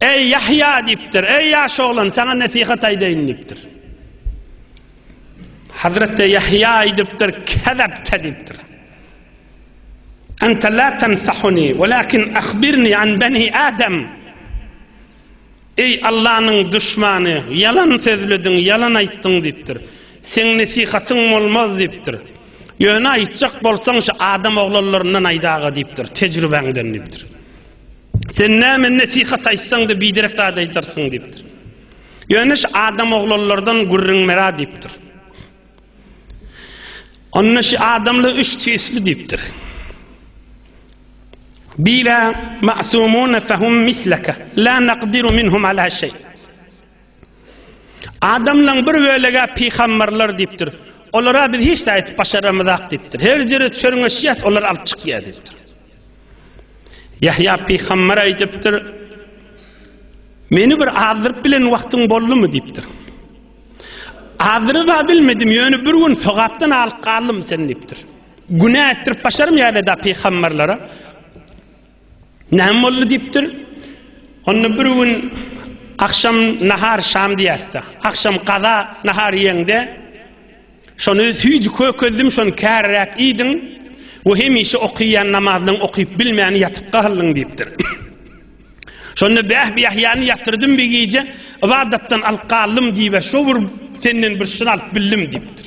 Eý, Ýahýa! diýipdir. Eý, ýaş oglan, saňa nesihat aýdaýyn diýipdir. Hazreti Ýahýa aýdypdyr, Kezepte diýipdir. Ente la tensahuni, walakin ahbirni an bani Adam. Eý, Allanyň duşmany, ýalan sözlediň, ýalan aýtdyň diýipdir. Seň nesihatyň bolmaz diýipdir. Ýöne aýtjak bolsaň, şu adam oglanlaryndan aýdaga diýipdir, tejribäňden diýipdir. Sen näme nesihat aýtsaň-da biderek zat aýdarsyň diýipdir. Ýöne şu adam oglanlardan gürrüň bera diýipdir. Onda şu adamlar üç tüýsli diýipdir. Bila ma'sumun fahum mislaka la naqdiru minhum ala şey. Adamlaň bir bölege pygambarlar diýipdir. Olara biz hiç zat aýdyp başaramyzak diýipdir. Her ýere çörňeşýäs, olar alyp çykýar diýipdir. Ýahýa pygambar aýdypdyr. Meni bir azdyryp bilen wagtyň boldumy diýipdir. Azdyryp bilmedim, ýöne bir gün sogapdan alyp galdym sen diýipdir. Günä etdirip başarym ýa-da pygambarlara. Näme boldy diýipdir. Onda bir gün agşam nahar şam diýäsde. Agşam gaza nahar iýeňde şony süýji kökezdim şony käriräk iýdiň we hemişe okaýan namazlaň okyp bilmän ýatyp galdyň diýipdir. Şonda bäh bir ýahýany ýatyrdym bir gije, ybadatdan alyp galdym diýip, şo bir senden bir şyr alyp bildim diýipdir.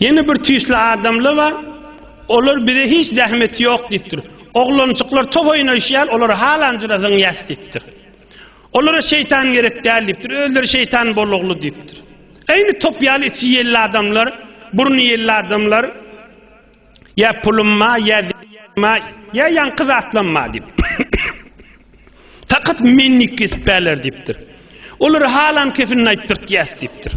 Ýene bir tüýsli adamlar bar, olar bize hiç zähmeti ýok diýipdir. Oglanjyklar top oýnaýşýar, olar halanjyra zyňýas diýipdir. Olara şeýtan gerek däl diýipdir, özleri şeýtan bolugly diýipdir. Eýni top ýaly içi ýelli adamlar, burny ýelli adamlar ýa pulumma, ýa ma, ýa ýaňky zatlamma diýip. Fakat menlik kesip bäler diýipdir. Olara halan kefinini aýtdyrtýas diýipdir.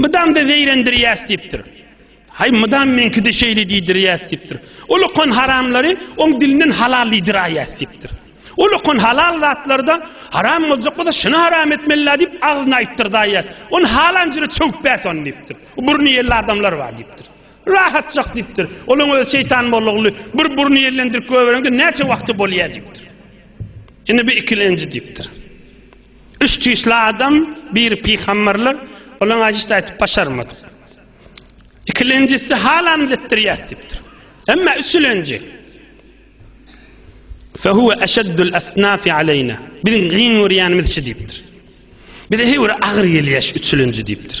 Mydam-da zeýrendirýäs diýipdir. Haý, mydam meňki-de şeýle diýdirýäs diýipdir. Ol okan haramlary oň dilinden halal diýdiräýýäs diýipdir. Ol okan halal zatlary-da haram boljak bolsa, şuny haram etmeli-la diýip, agzyna aýtdyrdaýýas. Ony halan jüre çöwüp-bäs ony diýipdir. Burny ýelli adamlar bar diýipdir. Rahatjak diýipdir. Olaň özi şeýtan mollaguly bir burny ýellendirip goýbereňde näçe wagty bolýa diýipdir. Ine bu ikilenji diýipdir. Üç tüýsli adam, biri pygamberler, olaň ajysyny aýdyp başarmadyk. Ikilenjisi halam zetdirýäs diýipdir. Emma üçülenji Fehuve eşeddül esnafi aleyna. Biziň gyn görýänimiz şu diýipdir. Bize heýwir agyr gelýär şu üçülenji diýipdir.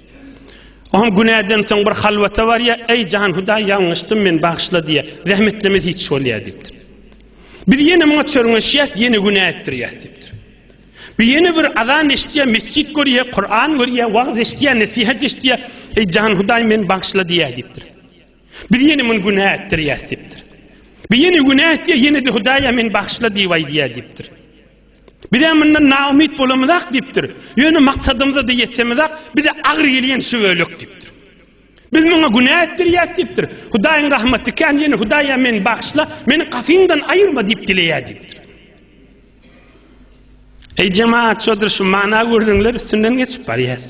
Oňa günäden soň bir halwata barýar, eý jan Hudaý ýalňyşdym men bagyşla diýýär. Zähmetlemez hiç bolýar diýipdir. Biz ýene muňa çörňeşýäs, ýene günä etdirýäs diýipdir. Bir ýene bir azan eşitýär, mesjid görýär, Kur'an görýär, wagyz eşitýär, nesihat eşitýär. Eý jan Hudaý men bagyşla diýýär diýipdir. Biz ýene muny günä etdirýäs diýipdir. Bir ýene günä etýär, ýene-de Hudaýa men bagyşla diýip aýdýar diýipdir. Bizem mundan naumyt bolamyzak diýipdir. Ýöne maksadymyza-da ýetemizak, bize agyr gelýän şu bölek diýipdir. Biz muňa günä etdirýäs diýipdir. Hudaýyň rahmaty kän, ýöne Hudaýa meni bagyşla, meni gapyňdan aýyrma diýip dileýär diýipdir. Eý jemaat, şoldur şu mana gürrüňler üstünden geçip barýas.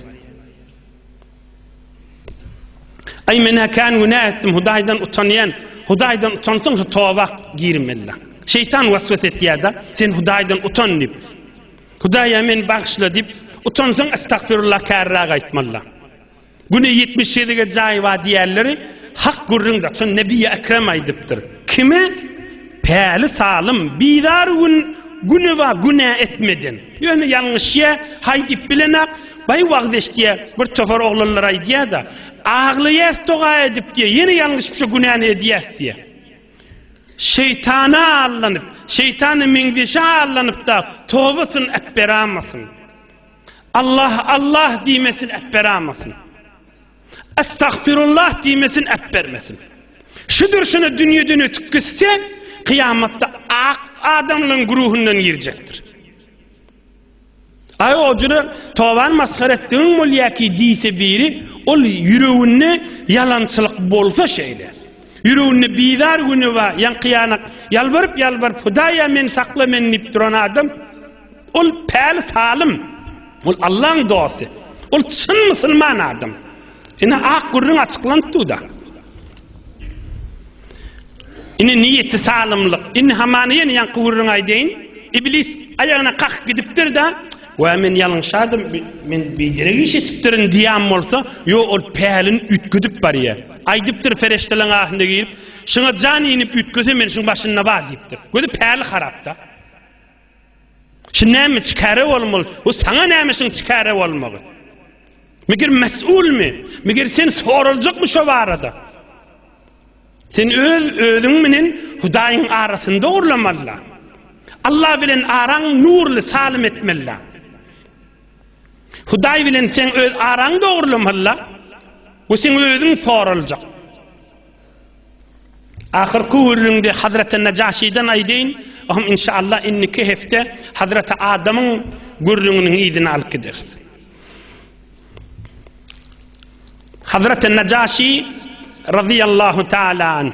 Ay men kän günä etdim, Hudaýdan utanýan, Hudaýdan utansyň, toba girmeli. Şeytan waswas etýärdi, sen Hudaýdan utan diýip. Hudaýa men bagşyla diýip, utansyň estagfirullah kärräk aýtmaly. Güne 70 şedige jaý bar diýerleri hak gürrüňde. Şon Nebi Ekrem aýdypdyr. Kime Päli salym, bizar gün Güneba günä etmeden. Ýöne ýalňyşýa, haý diýip bilenok, Baý wagyz eşitýä, bir topar oglanlar aýdýa-da, Aglaýas doga edip diýä, ýene ýalňyşyp şo günäni edýäs diýä. Şeýtana allanyp, şeýtana meňzeşe allanyp-da, tobasyny äpberamasyn. Allah, Allah diýmesin, äpberamasyn. Estagfirullah diýmesin äpbermesin. Şudur şuna dünýeden ötüp gitse, kyýamatda ak adamlaryň güruhundan girjekdir. Aý o jüre toban masgara etdigiň bolýaki diýse biri, ol ýüreginde ýalançylyk bolsa şeýle. Ýüreginde bizar güni bar, ýaňky ýanak ýalbaryp ýalbaryp Hudaýa meni sakla meni diýip duran adam, Ol päli salym. Ol Allaň dosty. Ol çyn musulman adam. Ine ak gürrüň açyklanp dur-da. Ine niýeti salymlyk. Indi hamana ýene ýaňky gürrüňi aýdaýyn. Iblis aýagyna kakyp gidipdir-de, Wä men ýalňyşardym, men biderek iş etipdirin diýen bolsa, ýo ol pälini üýtgedip barýar. Aýdypdyr ferişteleň ahynda girip, Şuňa jan inip üýtgese men şuň başynda bar diýipdir. Gözi päli harap-da. Şu näme çikare bolmaly? Bu saňa näme şuň çikare bolmagy? Meger mesulmy? Meger sen soraljakmy şo barada? Sen öz özüň bilen Hudaýyň arasyny dogurlamalyda. Allah bilen araň nurly salim etmelida. Hudaý bilen sen öz araň dogurlamalyda. Bu sen özüň soraljak. Ahyrky gürrüňde Hazreti Najaşiden aýdaýyn, oňam inşallah indiki hepde Hazreti Adamyň gürrüňiniň yzyny alyp gideris. Hazreti Najaşi radiyallahu taala anh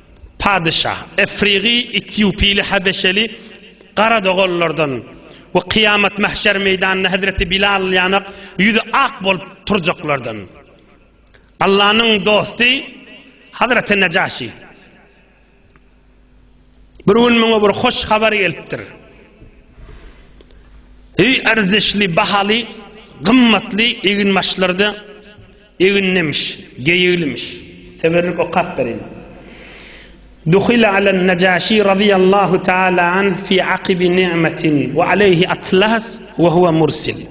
Padyşa, efrigy, etýopyly, habeşeli, gara doganlardan we kyýamat mahşer meýdanynda hezreti Bilal ýanak ýüzi ak bolup turjaklardan. Allanyň dosty Hazreti Nejaşi. Bir gün muňa bir hoş habar gelipdir. Eý erzişli, bahaly, gymmatly eginbaşlarda Eginlimiş, geýiglimiş. Teberrük okap bereýin. Duhile alen Najaşi razyýallahu taala anh fi akibi ni'metin we aleyhi atlas we huve mursil.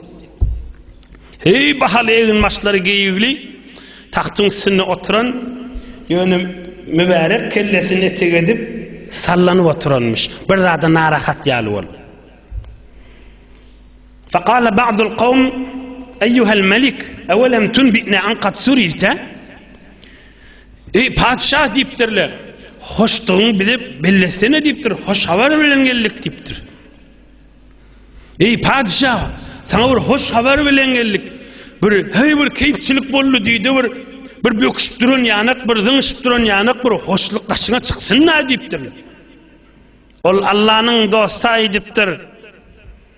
Heý bahaly egin başlary geýigli tagtyň üstünde oturan ýöne mübärek kellesini etek edip sallanyp oturanmyş. Bir zada narahat ýaly bolup. Fekale ba'dul kavm, Eyyuhel melik, evelem tunbi'ne an kad suriyte? Ey patyşa diýipdirler. Hoşdugyňy bize bellesene diýipdir. Hoş habar bilen geldik diýipdir. Ey patyşa, sana bir hoş habar bilen geldik. Bir hey bir keýpçilik boldy diýdi bir bir böküşip duran ýanak, bir zyňyşyp duran ýanak bir hoşluk daşyňa çyksyn-da diýipdir. Ol Allanyň dosty aýdypdyr.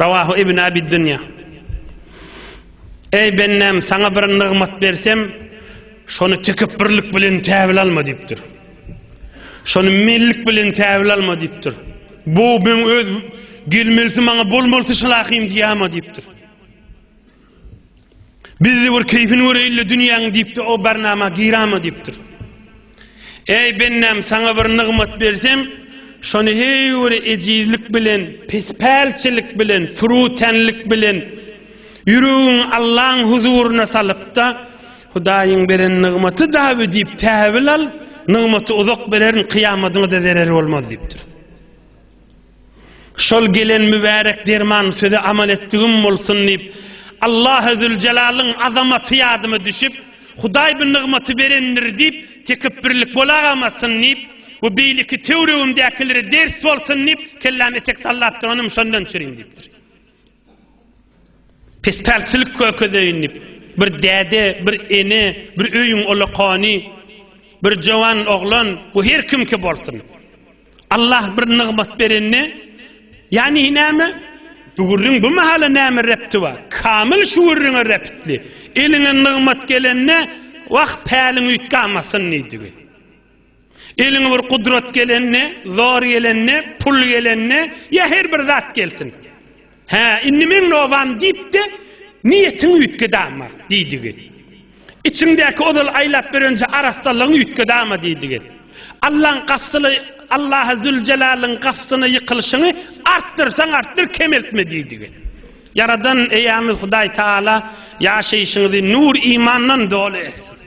Rawahu Ibn Abi Dünýä. Eý bendäm, saňa bir nygmat bersem, şony tekepbirlik bilen käbir alma diýipdir. Şony mellik bilen käbir alma diýipdir. Bu men öz gelmelisi maňa bolmalysy şylahym diýýärmi diýipdir. Bizde bir keýfini göreýin-le dünýäň diýip-de o barnama girama diýipdir. Eý, bendäm, saňa bir nygmat bersem, şony heýwiri ejizlik bilen, pespälçilik bilen, fürütenlik bilen ýüregiňi Allaň huzuryna salyp-da, Hudaýyň beren nygmaty dabi diýip täwil al, nygmaty uzak bererin, kyýamadyňa-da zereri bolmaz diýipdir. Şol gelen mübärek derman söze amal etdigim bolsun diýip, Allahy Züljelalyn azamaty ýadyma düşüp, Hudaý bu nygmaty berendir diýip, tekepbirlik bolagamazsyn diýip we beýleki töwregimdäkilere ders bolsun diýip, kelläme etek sallap duranym şondan çürin diýipdir. Pespälçilik kökezeýin diýip, bir däde, bir ene, bir öýüň ulakany, bir jowan oglan, bu her kimki bolsun, Allah bir nygmat berende, ýagny näme, bu gürrüň bu mahala näme repti bar? Kamyl şu gürrüňe reptli. Eliňe nygmat gelende, Wah, päliň üýtgamasyn diýdigi. Eliňe bir gudrat gelende, zor gelende, pul gelende, ýa her bir zat gelsin. Hä, indi meň nobam diýip-de, niýetiňi üýtged ama, diýdigi. Içiňdäki ozal aýlap berenje arassalygyňy üýtged ama diýdigi. Allaň gapysly, Allahy Züljelalyn gapysyna ýykylyşyňy artdyrsaň artdyr, kemeltme diýdigi. Ýaradan eýämiz Hudaý Taala ýaşaýşyňyzy nur-imandan doly etsin.